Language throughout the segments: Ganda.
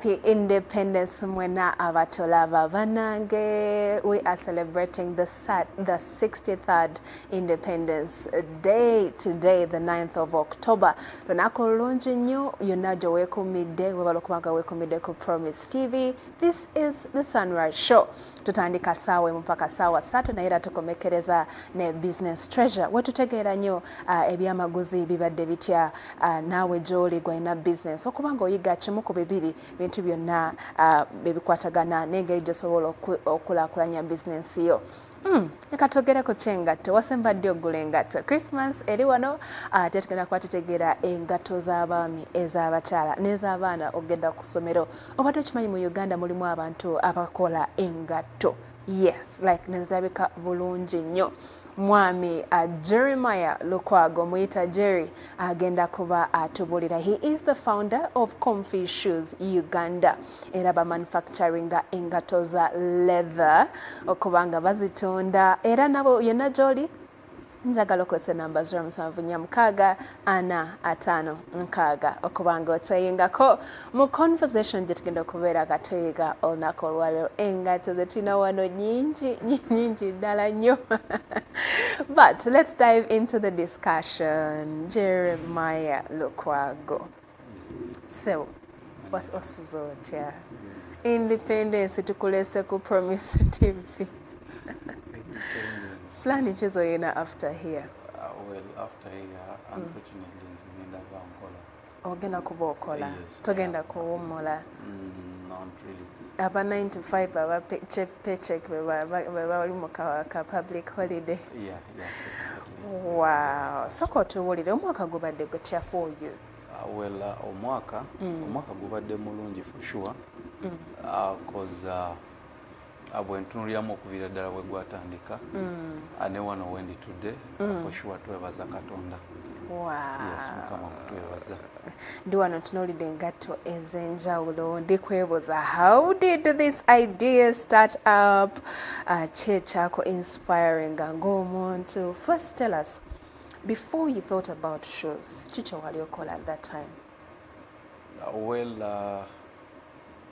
Happy Independence mwena abatolaba banange we are celebrating the, the 63rd Independence Day today the 9th of October lunaku lulungi nnyo yonna gye weekuumidde webala okubanga weekuumidde ku Promise TV this is the Sunrise Show tutandika saawa emu paka saawa ssatu naye era tukomekereza ne Business Treasure wetutegeera nnyo uh, ebyamaguzi bibadde bitya uh, naawe gyoli gwalina bizinesi okuba nga oyiga kimu ku bibiri bintu byonna uh, ebikwatagana n'engeri gyosobola okulakulanya bizinesi yo Hmm, reka tugere ku ky'engatto wasemba ddi ogula engatto christmas eri wano ate ah, tugenda kuba tutegeera engatto z'abaami ez'abakyala n'ez'abaana okugenda ku ssomero obadde okimanyi mu uganda mulimu abantu abakola engatto yes like nezirabika bulungi nnyo mwami uh, jeremiah lukwago muyita jerry agenda kuba atubulira he is the founder of comfy shoes uganda era bamanufacturinga engato za leather okubanga bazitunda era nabo yonna gyoli njagala okozesa enamba zira musanvu nya mukaaga ana ataano nkaaga okubanga otweyingako mu conversation gye tugenda okubeera nga tweyiga olunaku olwaliro engato ze tulina wano nyingi nyingi ddala nnyo but let's dive into the discussion jeremiah lukwago sebo osuza otya independence tukulese ku promise tv plan ki zoyina after here uh, well after here mm. unfortunately mm. ngenda bankola ogenda kuba okola yes, togenda kuwumula mm, not really aba 9 to 5 aba paycheck bebali mu ka public holiday Wow. Soka otubuulire omwaka gubadde gutya for you? Ah, well, uh, omwaka mm. omwaka gubadde mulungi for sure mm. uh, cause uh, uh, bwentunuliramu okuviira ddala bwe gwatandika mm. uh, ne wano wendi tudde uh, mm. for sure twebaza katonda wow. yes mukama kutwebaza ndi wano ntunuulidde engatto ez'enjawulo ndi kwebuuza how did this idea start up uh, kyekyako inspiring ng'omuntu first tell us before you thought about shoes ki kyewali okola at that time uh, well uh,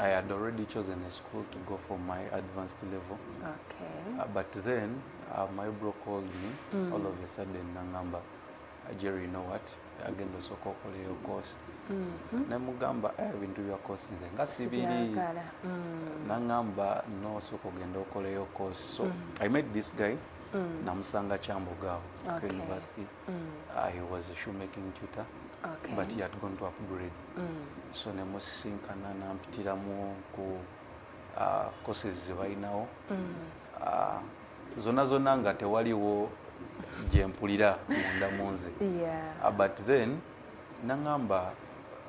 I had already chosen a school to go for my advanced level. Okay. Uh, but then uh, my bro called me mm. all of a sudden nangamba uh, Jerry, you know what? agenda osooka okola eyo course mm-hmm. nemugamba eh, ebintu bya course nze nga sibiri mm. nangamba no osooka ogenda okola eyo course so mm. i met this guy mm. namusanga kyamboga awo okay. ku university mm. uh, he was a shoemaking tutor okay. but he had gone to upgrade mm. so nemusisinkana nampitiramu ku uh, courses zebalinawo mm. uh, zona zona nga tewaliwo gyempulira munda munze yeah. uh, but then nangamba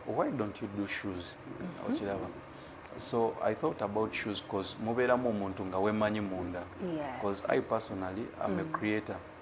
why don't you do shoes mm -hmm. okiraba so i thought about shoes bcause mubeeramu omuntu nga wemanyi munda bcause yes. i personally am mm. a creator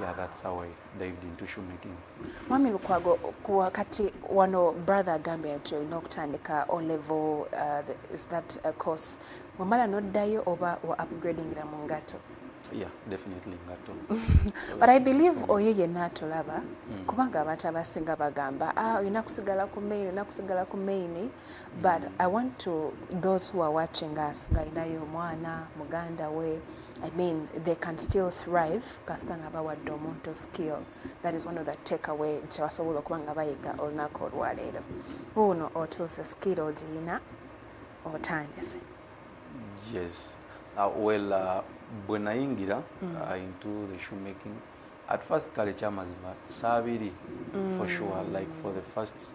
Yeah, that's how I dived into shoemaking. Mwami Lukwago, wakati wano brother agambye nti olina okutandika O level uh, the, is that a course wamala noddayo oba wa upgrading la mungato? Yeah, definitely ngato. But I believe oyo yenna atulaba mm. kubanga abantu abasinga bagamba ah, olina kusigala ku main, olina kusigala ku main but i want to those who are watching us ng'alinayo omwana muganda we i mean they can still thrive kasita nga bawadde omuntu skill that is one of the take away kyebasobola okuba nga bayiga olunaku olwaleero wuuno otuuse skill ogiyina otandise yes uh, well uh, bwe nayingira mm. uh, into the shoemaking at first kale kyamazima saabiri mm. for sure like for the first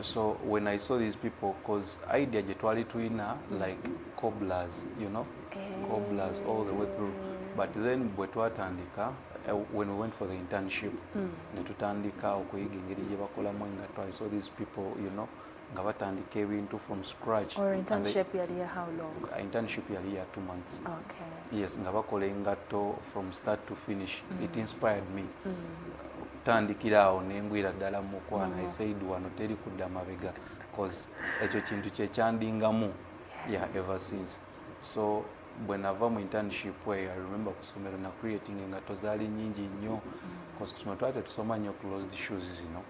so when i saw these people cause idea gye twali tulina like coblers you know eh. coblers all the way through but then bwe twatandika eh, when we went for the internship mm. ne tutandika okuyiga engeri gye bakolamu engatto i saw these people you know nga batandika ebintu from scratch uh, internship yali ya two months okay. yes nga bakola engatto from start to finish mm. it inspired me mm. tandikira awo nengwira ddala mukwana mm-hmm. esaid wano teri kudda mabega cause ekyo kintu kyekyandingamu ya ever since so bwe nava mu internship eyo i remember kusomero na creating engato zaali nyingi nnyo mm-hmm. cause kusomero twali tetusoma nnyo closed shoes zino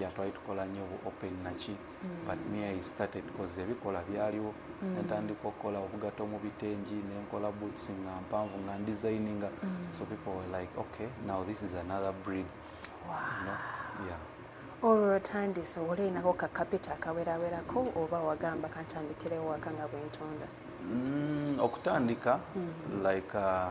ya twali tukola nnyo open naki mm. but me i started cause ebikola byaliwo mm. natandika okukola obugato mu bitengi nenkola boots nga mpanvu nga ndesigninga mm. so people were like okay now this is another breed wow. you know? yeah olwo lwotandise olinako kakapita akawerawerako oba wagamba kantandikirewo waka nga bwentunda mm, okutandika mm. like uh,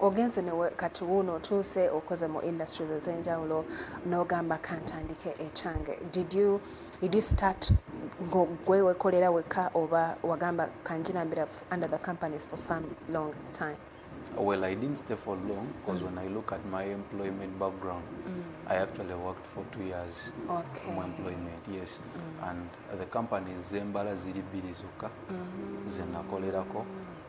ogenze newe kati wuuno otuuse okoze mu industries ez'enjawulo n'ogamba kantandike ekyange did you did you start ngogwe wekolera wekka oba wagamba kanjirambira under the companies for some long time Well, I didn't stay for long because mm. when I look at my employment background, mm. I actually worked for two years okay. my employment, yes. Mm. And the company Zembala Ziribiri Zuka, mm. Zenakolerako. Mm.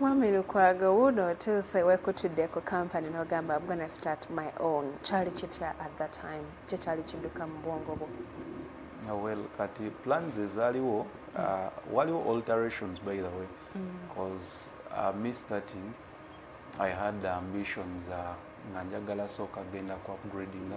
Wamilukwaga wuuno otuuse wekutudde ku company n'ogamba I'm gonna start my own kyali kitya at that time kye kyali kidduka mu bwongo bwo ah, well kati plans ezaaliwo uh, waliwo alterations by the way because mm. uh, me starting I had ambitions uh, nga njagala sooka genda ku upgradinga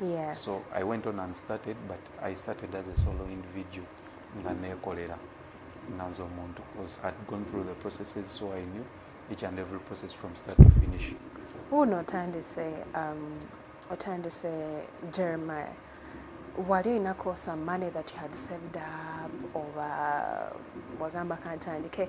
Yes. So I went on and started, but I started as a solo individual nga nekolera nga nze omuntu because I'd gone through the processes so I knew each and every process from start to finish. Wuuno otandise um, otandise Jeremiah wali olinako some money that you had saved up oba wagamba kantandike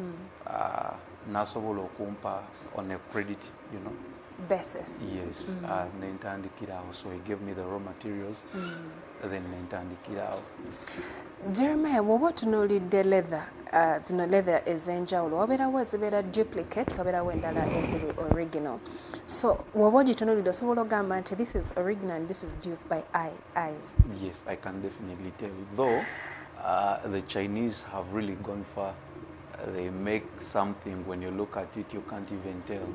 mm. uh, nasobola okumpa on a credit you know basis yes mm. uh, nentandikira awo so he gave me the raw materials mm. then nentandikira awo jeremiah bwoba otunuulidde leather uh, zino uh, leather ez'enjawulo wabeerawo ezibeera duplicate wabeerawo endala eziri original so bwoba ogitunuulidde osobola ogamba nti this is original and this is due by eyes yes i can definitely tell though Uh, the Chinese have really gone far. They make something when you look at it you can't even tell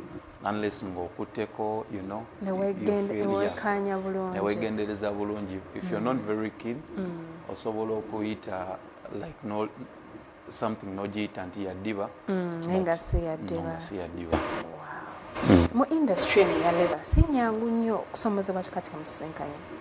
unless ng'okutteko you know newekanya bulungi newegendereza bulungi if mm. you're not mm. very keen mm. osobola okuyita like no something nogiyita nti yaddiba mm, naye nga si yaddiba mu industry eno ya leba si nyangu nnyo okusomozebwa kikati kamusisinkanye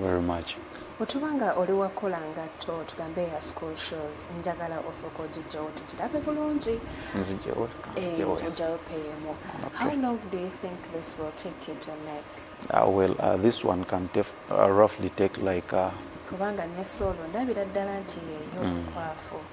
very much bwetuba nga oli wakola ngatto tugambe ya school shows njagala osooka ogijjawo tugirabe bulungi nzijawojawo peyemu how long do you think this will take you to make uh, well uh, this one can def, uh, roughly take like uh, kubanga ne solo ndabira ddala nti yeyo mm. kwafu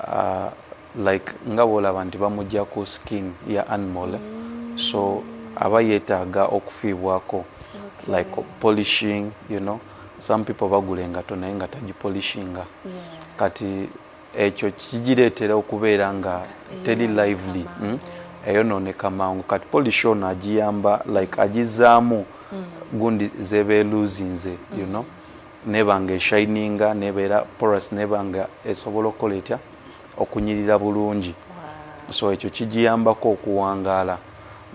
uh, like nga bwolaba nti bamugya ku skin ya animal eh? mm. so aba yetaaga okufiibwako okay. like polishing you know some people bagula engato naye nga tagipolishinga yeah. kati ekyo kigireetera okubeera nga teri lively mm? eyonooneka mangu kati polish ono agiyamba like agizaamu mm. gundi zebeeluzinze you know mm. neba nga eshininga nebeera porous neba nga esobola okukola etya okunyirira bulungi so ekyo kigiyambako okuwangaala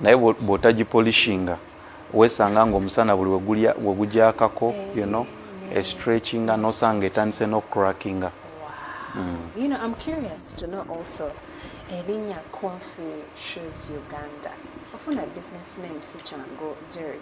naye bwotagipolishinga wesanga nga omusana buli wegujakako you know estretchinga nosanga etandise nocrackinga erinnya confi shoes uganda ofuna business name sikyangu jerry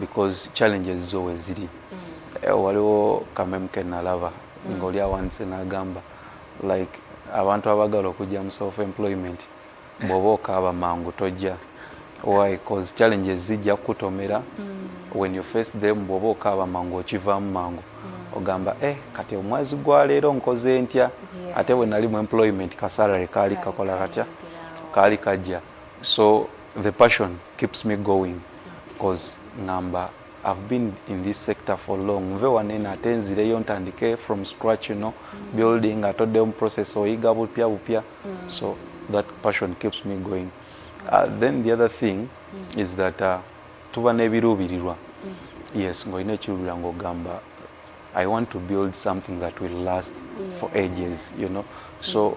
because challenges zo weziri mm. eh, waliwo kamemu kenalaba mm. ngaoli awandise nagamba like abantu abagala okujja mu self employment bwoba okaaba mangu tojja why cause challenges zijja kukutomera mm. when you face them bwoba okaaba mangu okivaamu mangu mm. ogamba eh kati omwezi gwa leero nkoze ntya yeah. ate bwe nali mu employment kasalary kaali kakola katya kaali kajja so the passion keeps me going cause ngamba I've been in this sector for long nve wanene ate nzireyo ntandike from scratch you know mm. building atoddeyo mu process oyiga bupya bupya mm. so that passion keeps me going uh, then the other thing mm. is that uh, tuba n'ebiruubirirwa mm. yes ng'olina ekiruubirira ng'ogamba i want to build something that will last yeah. for ages you know so mm.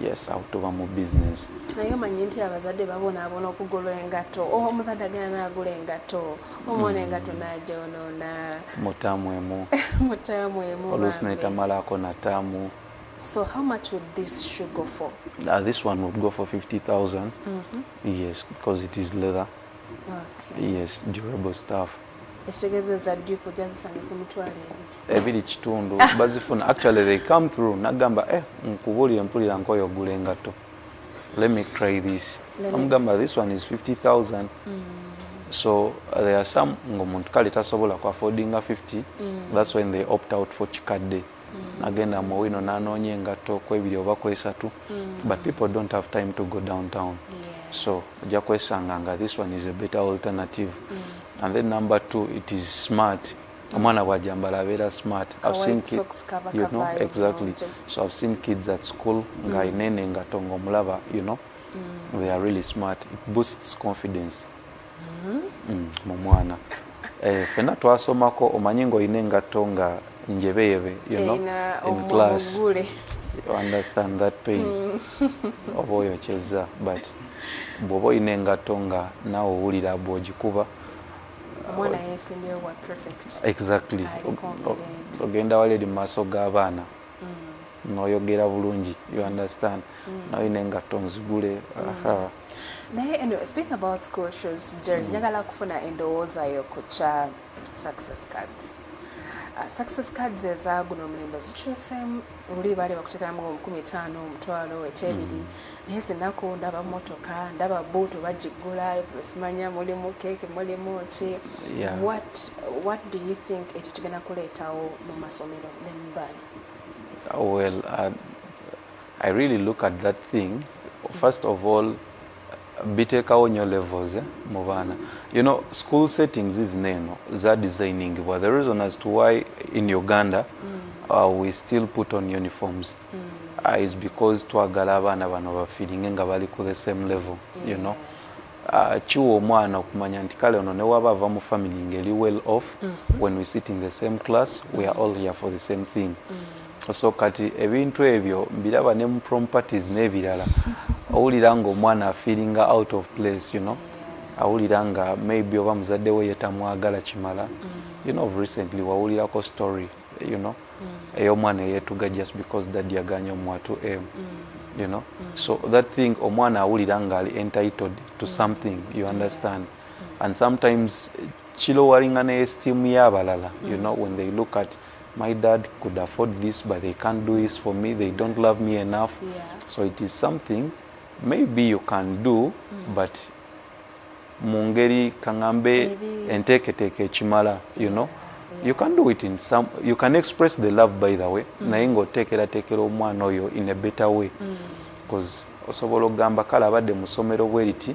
yes awo tuba mu business naye omanyi nti abazadde babonaabona okugula engatto oh, omuzadde agenda naagula engatto omwana mm. engatto nagyonoona mutaamu emu mutaamu emu oluusi netamalaako nataamu So how much would this shoe go for? Uh, this one would go for 50,000. Mm -hmm. Yes, because it is leather. Okay. Yes, durable stuff. Ekitegeeza za dupe ojazisanga ku mitwalo ebiri. ebiri kitundu ah. bazifuna actually they come through nagamba eh nkubulire mpulira nkoyo ogula engatto let me try this amugamba this one is 50000 mm. so uh, there are some ngaomuntu kale tasobola ku affordinga 50 mm. that's when they opt out for kikadde mm. nagenda mu wino nanoonya engatto kwebiri oba kwesatu mm. but people don't have time to go downtown yeah. so ojja kwesanga nga this one is a better alternative mm. and then number two it is smart omwana bwajambala abeera smart you know, exactly so i've seen kids at school nga mm. inene nga tonga omulaba you know mm. they are really smart it boosts confidence mm-hmm. mm, mu mwana eh, fena twasomako omanyi ngaolina engatto nga njebeyebe you know, in class you understand that pain mm. oba oyokyezza but bwoba olina engatto nga naawe owulira bwogikuba omwana yesimbewo bwa perfect exactly ogenda wali eri mumaaso g'abaana mm. noyogera bulungi you understand mm. naye nengatto nzigule mm. naye anyway, speaking about school shows jerry mm. njagala kufuna endowooza yo ku kya success cards uh, success cards ezaguno omulembe zikyusemu luli baali bakutekeramu omukumi etaano omutwalo ekyebiri mm. naye zinaku ndaba motoka ndaba buutu bagiggula simanya mulimu keeki mulimu ki what do you think ekyo kigenda kuleetawo mu masomero ne mubaana well uh, i really look at that thing first of all bitekawo nyo levels eh, mu baana you know school settings zino eno za designingibwa the reason as to why in uganda mm. uh, we still put on uniforms mm. uh, is because twagala abaana bano bafiringe nga bali ku the same level mm. you know uh, kiwa omwana okumanya nti kale ono newaba ava mu family ngeri well off mm -hmm. when we sit in the same class we are all here for the same thing mm. so kati ebintu ebyo mbiraba ne mu properties n'ebirala owulira nga omwana afeelinga out of place you know awulira nga maybe oba muzadde we yetamwagala kimala mm. you know recently wawulirako story you know mm. ey'omwana eyetuga just because dad yaganye omuwa to m mm. you know so that thing omwana awulira nga ali entitled to something you understand and sometimes kilowaringa ne esteem y'abalala you know when they look at mm. my dad could afford this but they can't do this for me they don't love me enough yeah. so it is something maybe you can do mm. but mu ngeri kaŋambe enteeketeeka ekimala you know yeah. you can do it in some you can express the love by the way mm. naye ng'oteekerateekera omwana oyo in a better way mm. osobola okugamba kale abadde musomero bweriti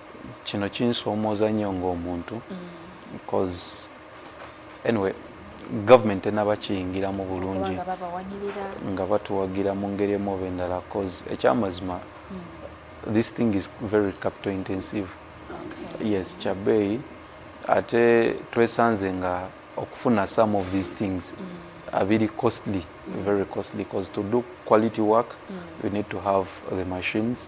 kino kinsoomooza nnyo ng'omuntu bcoz mm. anyway government enaba kiyingiramu bulungi nga batuwagira mu ngeri emu oba endala bcoz ekyamazima mm. this thing is very capital intensive yes kyabeeyi ate twesanze nga okufuna some of these things mm. abiri costly very costly bcoz to do quality work you need to have the machines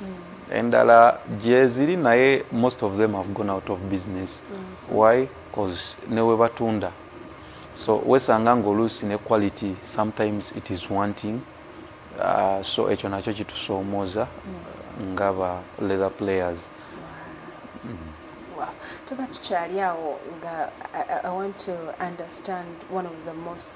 mm. endala gyeziri naye most of them have gone out of business mm. why bcause newe batunda so wesanga ngaoluusi ne quality sometimes it is wanting uh, so ekyo nakyo kitusoomooza mm. nga ba leather players mm. tuba tukyali awo nga i want to understand one of the most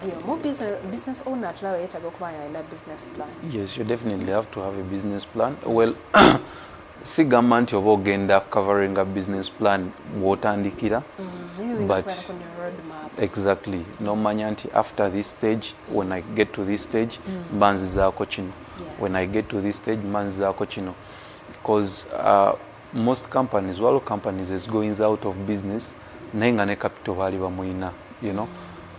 buli omu business owner atulaba yeetaga okuba nga alina business plan yes you definitely have to have a business plan well sigamba nti oba ogenda coveringa business plan gwotandikira mm, but exactly nomanya nti after this stage when i get to this stage mm. mba nzizaako kino when i get to this stage mba nzizaako kino bcause uh, most companies waliwo companies ezigoings out of business naye nga ne capital baali bamuyina you know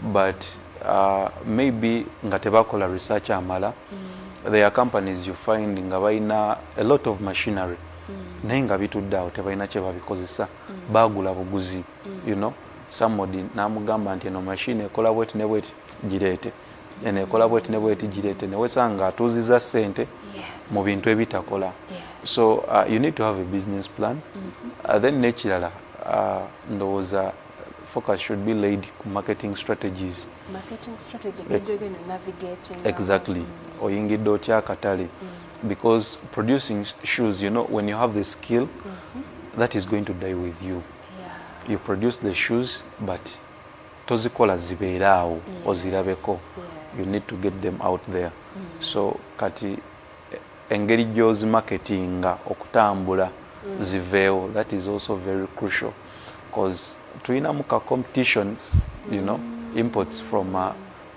but uh, maybe nga tebakola research amala mm. there are companies you find nga balina a lot of machinery mm. naye nga bitudde awo tebalina kyebabikozesa mm. bagula buguzi mm. you know somebody namugamba nti eno machine ekola bweti ne bweti gireete eno ekola bweti ne bweti gireete newesanga nga atuuziza sente mu bintu ebitakola so uh, you need to have a business plan mm-hmm. uh, then nekirala uh, ndowooza focus should be laid ku marketing strategies marketing strategy e- navigating exactly mm. oyingidde otya akatale mm. because producing shoes you know when you have the skill mm-hmm. that is going to die with you yeah. you produce the shoes but tozikola zibeere awo mm. ozirabeko you need to get them out there mm. so kati engeri gyozi marketinga okutambula mm. ziveewo that is also very crucial bcause tulinamu ka competition you know imports from uh,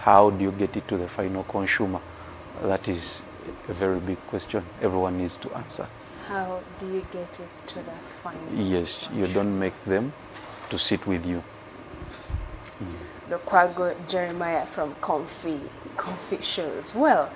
How do you get it to the final consumer? That is a very big question everyone needs to answer. How do you get it to the final? Yes, you don't make them to sit with you. Mm. Lukwago Jeremiah from Comfy, Comfy Shows. Well,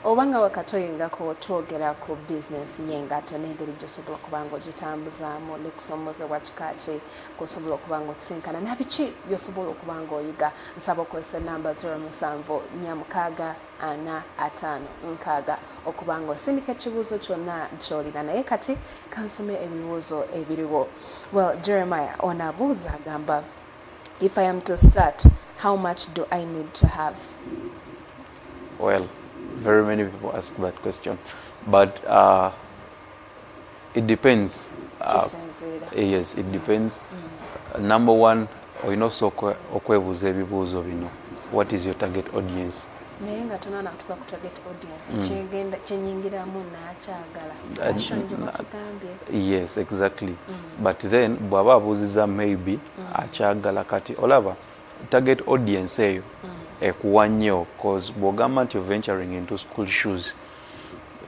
obanga wakatoyingako twogera ku bizinesi y'engato n'engeri gy'osobola okuba ng'ogitambuzaamu n'okusoomoozebwa kika ki gwosobola okuba nga osisinkana nabiki byosobola okuba nga oyiga nsaba okozesa enamba 077645 okuba nga osindika ekibuuzo kyonna kyolina naye kati kansome ebibuuzo ebiriwo well jeremiah ono abuuza agamba if i am to start how much do i need to have well very many people ask that question but uh, it depends uh, eh, yes it depends mm. number one olina okusooka okwebuuza ebibuuzo bino what is your target audience naye nga tonanatuka ku target audience mm. kyegenda kyenyingiramu nakyagala uh, yes exactly mm. but then bwaba abuuziza maybe mm. akyagala kati olaba target audience eyo mm. ekuwa nnyo cause bwogamba nti venturing into school shoes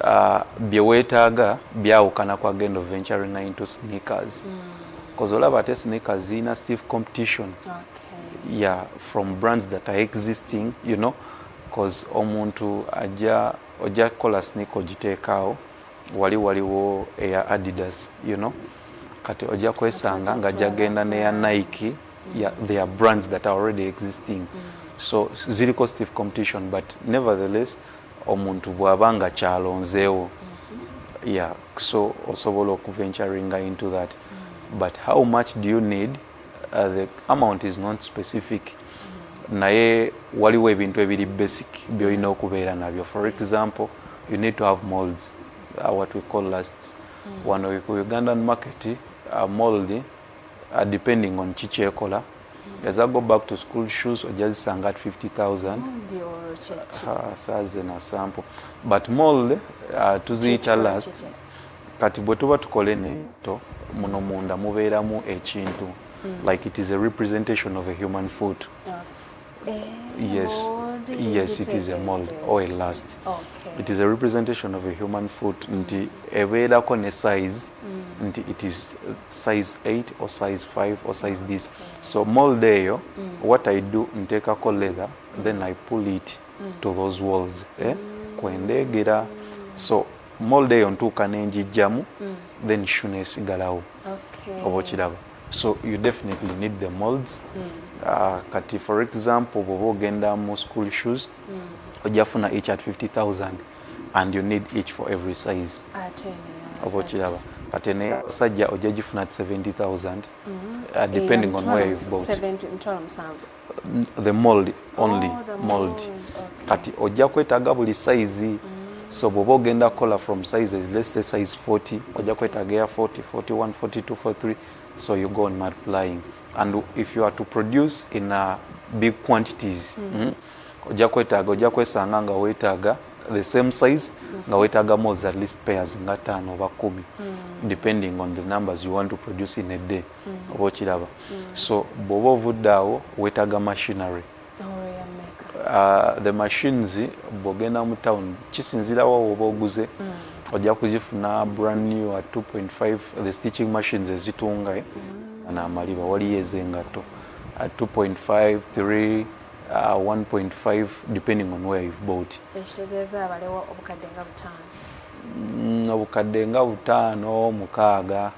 uh, bye weetaaga byawukana kwa gendo venturing into sneakers bcause mm. olaba ate sneakers zirina stiff competition okay. yeah from brands that are existing you know bcause omuntu ajja ojja kukola sneaker ogiteekaawo wali waliwo eya adidas you know kati ojja kwesanga nga jagenda neya nike yeah, there are brands that are already existing mm. so ziriko stiff competition but nevertheless omuntu bwaba nga kyalonzeewo mm-hmm. yeah so osobola okuventuringa into that mm-hmm. but how much do you need uh, the amount is not specific mm-hmm. naye waliwo ebintu ebiri basic byolina okubeera nabyo for example you need to have molds uh, what we call lasts mm. wano ku ugandan market uh, mold uh, depending on ki kyekola as i go back to school shoes ojja zisanga at 50000 saaze na sample but mall uh, tuziyita last kati bwe tuba tukole neto muno munda mubeeramu ekintu hmm. like it is a representation of a human foot Eh, yes. Yes, it is a mold or a last. Okay. It is a representation of a human foot. Mm. Nti ebeera ko ne size. Mm. Nti it is uh, size 8 or size 5 or size okay. this. So mold eyo, mm. what I do, nteka ko leather, mm. then I pull it mm. to those walls. Eh? Mm. Kwendegera. So mold eyo ntuuka nenjijjamu, mm. then shune sigalawo. Okay. Obo kiraba. so you definitely need the molds mm. uh, kati for example bwoba ogenda mu school shoes mm. ojafuna each at 50000 and you need each for every size oba okiraba kati ne sajja ojja gifuna at 70000 mm-hmm. uh, depending on where you've bought the mold only oh, the mold, mold. Okay. kati ojja kwetaaga buli size mm. so bwoba ogenda kukola from sizes let's say size 40 ojja kwetaaga ya 40 41 42 43 so you go on multiplying and if you are to produce in a uh, big quantities mm. Mm, ojja kwetaaga ojja kwesanga nga wetaaga the same size mm. nga wetaaga molds at least pairs nga taano oba kumi mm. depending on the numbers you want to produce in a day mm. mm. oba okiraba mm. so bwoba ovudde awo wetaga machinery uh, the machines bwogenda mu town kisinzirawo woba oguze mm. ojja kuzifuna brand new at 2.5 the stitching machines ezitunga eh? mm. namaliba waliyo ezengatto at 2.5 3 Uh, 1.5 depending on where you've bought ekitegeeza abalewo obukadde nga butaano mm, obukadde nga butaano mukaaga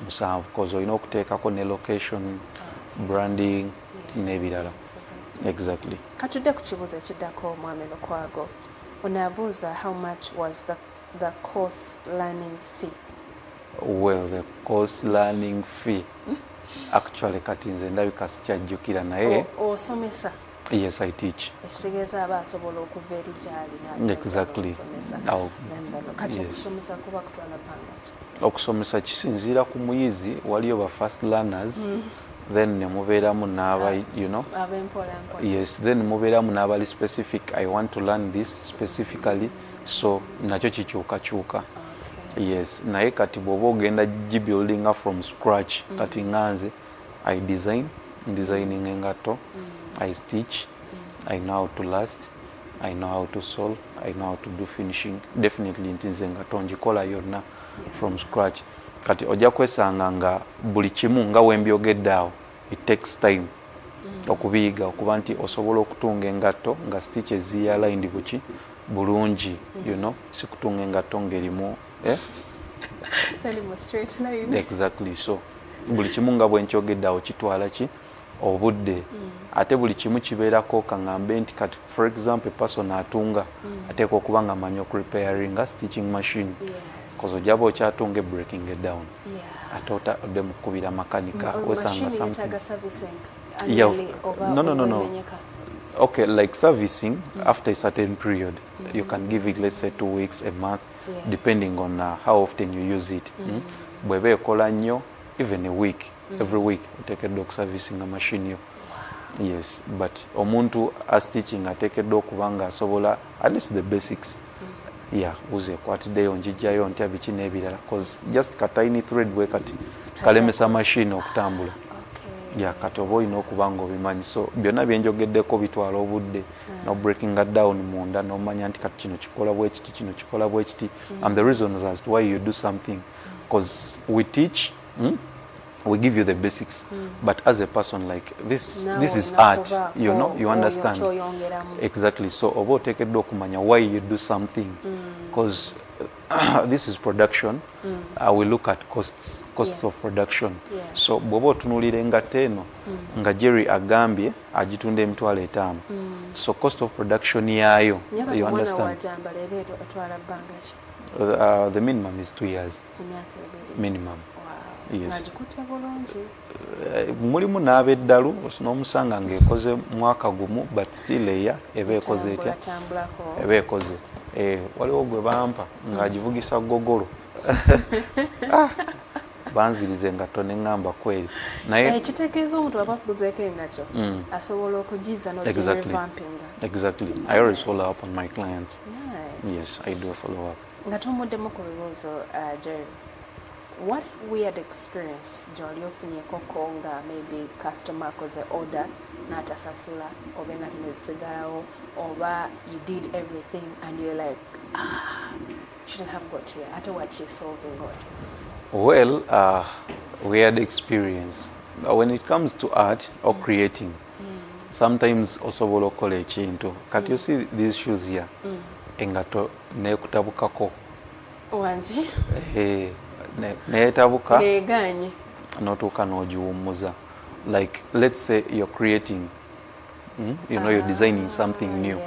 musanvu koz olina okuteekako ne location branding n'ebirala exactly katudde ku kibuuzo ekiddako omwami lukwago onabuuza how much was the, the course learning fee well the course learning fee actually kati nze ndabika sikyajjukira naye osomesa oh, oh, yes i teach ekitegeeza aba asobola okuva eri gyali exactly kati okusomesa kuba kutwala pangaki okusomesa kisinziira ku muyizi waliyo ba first learners mm. then nemubeeramu naaba ah, you know yes then mubeeramu naabali specific i want to learn this specifically so nakyo kikyukakyuka yes naye kati bwoba ogenda gibuildinga from scratch mm. kati nganze mm. i design designing engatto mm. i stitch mm. i know how to last i know how to sol i know how to do finishing definitely nti nze engatto ngikola yonna from scratch kati ojja kwesanga nga buli kimu nga wembyogedde awo it takes time mm. okubiyiga okuba nti osobola okutunga engatto nga stitch eziyalayindi buki bulungi mm. you know sikutunga engatto ngerimu eh? exactly so buli kimu nga bwenkyogedde awo kitwala ki obudde mm. ate buli kimu kibeerako kaŋambe nti kati for example person atunga mm. ateeka okuba nga amanyi okurepairinga stitching machine koze ojaba okyatunga ebreaking down ate ode mukukubira makanika mm, wesanga something okay like servicing after a certain period you can give it let's say two weeks a month depending on uh, how often you use it mm. mm. bweba ekola nnyo even a week mm. every week oteekeddwa okuservicinga machine yo yes but omuntu astiching ateekeddwa okuba nga asobola at least the basics mm. ya uze ekwatiddeyo njijjayo ntya biki n'ebirala cause just katiny thread bwe kati kalemesa machine okutambula ya kati oba olina okuba nga obimanyi so byonna byenjogeddeko bitwala obudde mm. no breaking that down munda nomanya nti kati kino kikola bwekiti kino kikola bwekiti mm. and the reasons as to why you do something because we teach mm, we give you the basics mm. but as a person like this no, this is art you know you understand exactly so oba otekeddwa okumanya why you do something because mm. this is production mm. uh, we look at costs costs yes. of production yeah. so bwoba otunulira engato eno mm. nga jerry agambye agitunda emitwalo etaano mm. so cost of production yaayo you understand uh, the minimum is two years minimum yes. uh, mulimu n'abeddalu n'omusanga ng'ekoze mwaka gumu but still eya eba ekoze etya eba ekoze eh, waliwo gwe bampa ng'agivugisa gogolo ah. banziriza engatto ne ŋŋamba kweri naye eh, kitegeeza omuntu aba akuguzeeko engatto mm. asobola okugiza nogirevampinga exactly i always follow up on my clients yes i do a follow up nga tomuddemu ku bibuuzo uh, jerry what weird experience gyoli ofunyekoko nga maybe customer akoze order n'atasasula oba engatto nezisigalawo oba you did everything and you're like ah well uh, we had experience But when it comes to art or mm. creating mm. sometimes osobola okukola ekintu kati you see these shoes here mm. engato nekutabukako wangi eh, neyetabuka neganye notuuka nogiwummuza like let's say you're creating mm? you know you're ah, designing something new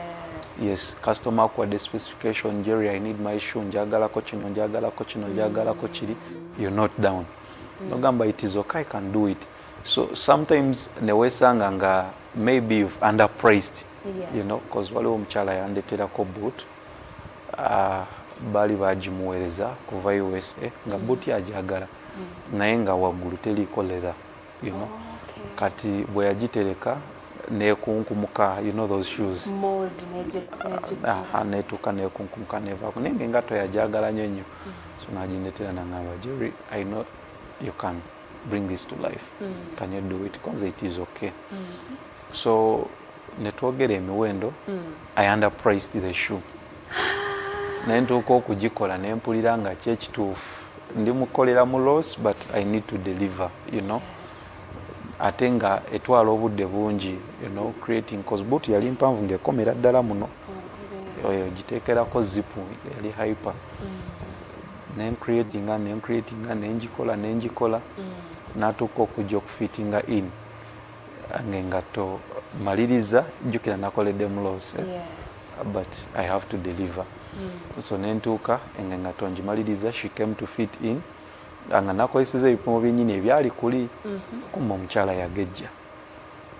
yes customer akuwadde specification jerry i need my shoe njagalako kino njagalako kino mm. njagalako kiri you're not down mm. nogamba it is okay i can do it so sometimes newesanga nga maybe you've underpriced yes. you know bcause waliwo omukyala yandeterako boot uh, baali bagimuweereza kuva usa nga mm. boot yajagala mm. naye nga waggulu teriiko leather you know? okay. kati bwe yagitereka nekunkumuka you know those shoes netuuka nekunkumuka nevaako naye nga engato yajagala nyo nnyo mm. so naginetera nangamba jerry i know you can bring this to life mm. can you do it conze it is okay mm. so netwogera emiwendo mm. i underpriced the shoe naye ntuuka okugikola nempulira nga kyekituufu ndi mukolera mu loss but i need to deliver you know ate nga etwala obudde bungi you know creating cause boot yali mpanvu ngaekomera ddala muno oh, oyo giteekerako zipu yali hyper mm. nencreatinga nencreatinga nengikola nengikola mm. natuuka okujja okufitinga in ngengatto maliriza jjukira nakoledde muloose but i have to deliver mm. so nentuuka engengatto ngimaliriza she came to fit in nga nakozeseza ebipimo byenyini ebyali kuli mm -hmm. kumba omukyala yagejja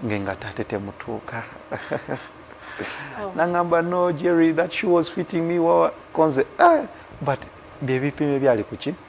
ngengatto ate temutuuka oh. nangamba no jerry that she was fitting me wawa konze eh, but byebipimo ebyali kuki mm.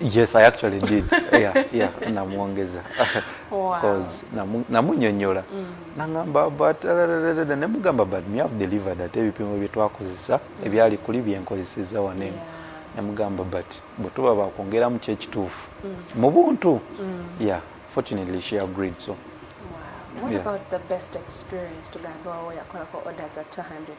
yes i actually did yeah, yeah, namwongeza bcause wow. namunyonyola mm. nangamba but nemugamba but me have delivered ate ebipimo byetwakozesa mm. ebyali kuli byenkozeseza waneno yeah. nemugamba but bwetuba bakwongeramu kyekituufu mm. mu buntu mm. yeah fortunately she agreed so wow. what yeah. about the best experience tugambe wawo yakolako orders at 200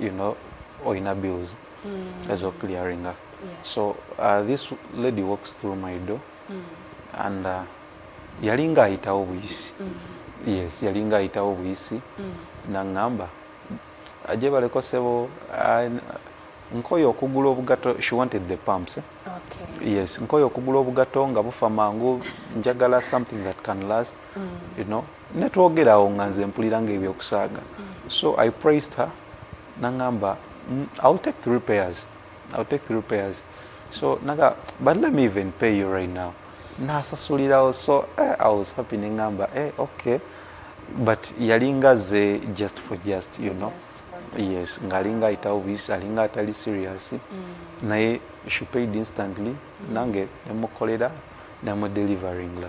you know oyina bills mm. ezo clearinga yes. so uh, this lady walks through my door mm. and uh, yalinga ayitawo buyisi mm. yes yalinga ayitawo buyisi mm. nangamba aje baleko sebo uh, nkoyo okugula obugato she wanted the pumps eh? okay. yes nkoyo okugula obugato nga bufa mangu njagala something that can last mm. you know netwogera awo nga nze mpulira nga ebyokusaaga so i praised her nangamba mm, ill take the repairs ill take the repairs so naga but let me even pay you right now nasasulirawo so eh, i was happy nengamba eh, okay but yalinga ze just for just you know yes ngalinga ayitawo buyisi alinga atali serious mm. naye she paid instantly mm. nange nemukolera namudeliveringa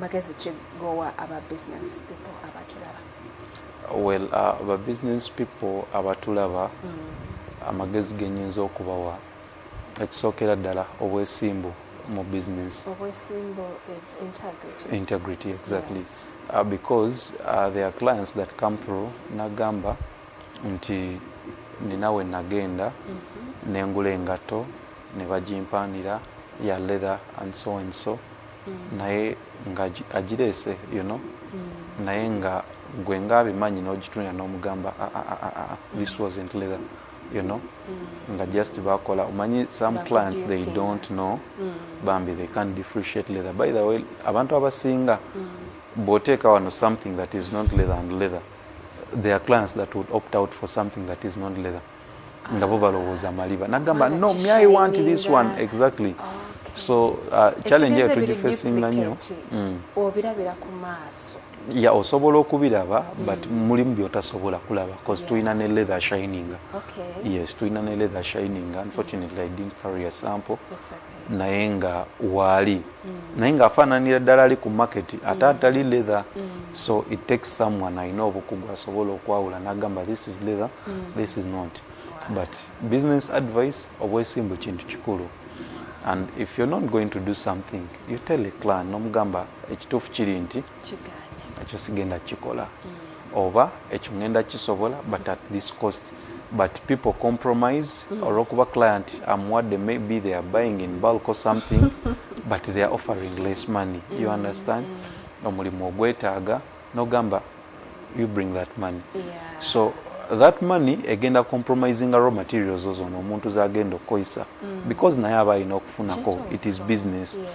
magezi ki gowa aba business people abatulaba well uh, aba business people abatulaba mm. amagezi genyinza okubawa ekisookera ddala obwesimbu mu business obwesimbu is integrity integrity exactly yes. uh, because uh, there are clients that come through nagamba nti ninawe nagenda mm -hmm. nengula engatto ne bagimpaanira ya leather and so and so mm. naye nga agireese you know mm. naye nga gwe nga abimanyi n'ogitunira n'omugamba ah, ah, ah, this wasn't leather you know mm. nga just bakola omanyi some Bakudio clients they yeah. don't know mm. bambi they can't differentiate leather by the way abantu abasinga mm. bwoteeka wano something that is not leather and leather there are clients that would opt out for something that is not leather nga bo balowooza maliba nagamba no me i want this one exactly so uh, challenge eyo tugifacinga nnyo mm. obirabira ku maaso ya osobola okubiraba mm. but mulimu byotasobola kulaba bcause tulina ne leather shining yes tulina ne leather shining unfortunately i didn't carry a sample naye nga waali mm. naye nga afaananira ddala ali ku market ate mm. atali leather mm. so it takes someone alina obukugu asobola okwawula nagamba this is leather this is not but business advice obwesimbu kintu kikulu and if you're not going to do something you tell a clan nomugamba ekituufu kiri nti ekyo sigenda kukikola mm. oba ekyo ngenda kisobola but at this cost but people compromise mm. olwokuba client amuwadde maybe they are buying in bulk or something but they are offering less money you mm. understand omulimu ogwetaaga nogamba you bring that money yeah. so that money egenda compromising raw materials ozo omuntu zagenda okukozesa mm. because naye aba alina okufunako it is business yeah.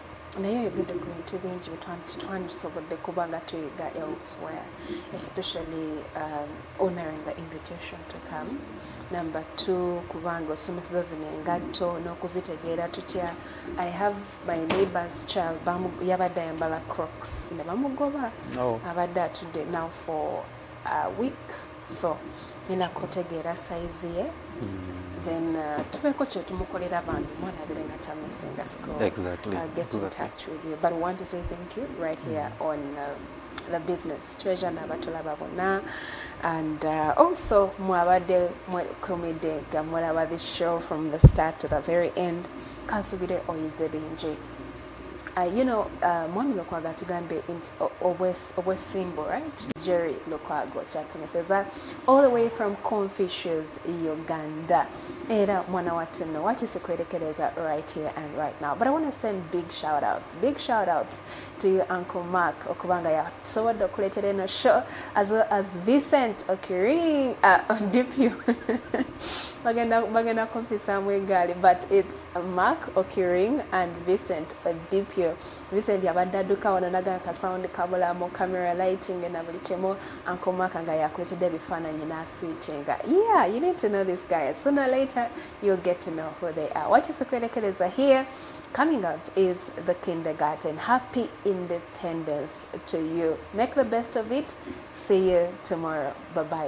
naye oyogedde ku bintu bingi twandisobodde kuba nga tuyiga elsewhere especially um, honoring the invitation to come number two kubanga osomeseza zino engatto n'okuzitegeera tutya i have my neighbors child yabadde ayambala crocs ne bamugoba oh. abadde atudde now for a week so nina kutegeera sayizi ye hmm. then uh, tubeeko kyetumukolera bambi mwana abere nga tamisinga school exactly. uh, get exactly. in touch with you but we want to say thank you right here mm. on um, the business treasure nabatulaba bonna and uh, also mwabadde mwekumidde nga mulaba this show from the start to the very end kansubire oyize bingi uh, you know uh, mwami lukwaga tugambye nti obwesimbu right jerry lukwago kyatumeseza all the way from confucius uganda era mwana wattu nno wakisikuerekereza right here and right now but i want to send big shout outs big shout outs to you uncle mark okubanga yasobodde okuleetera eno show as well as vincent okiring uh, dpu bagenda bagenda kumpisaamu egaali but it's mark okiring and vincent dpu Vincent abadde adduka wano naga ka sound kabula mu camera lighting na buli kimu Uncle Mark nga yakuletedde ebifaananyi n'asiikinga yeah you need to know this guy sooner later you'll get to know who they are wakisikuerekereza here coming up is the kindergarten happy independence to you make the best of it see you tomorrow bye bye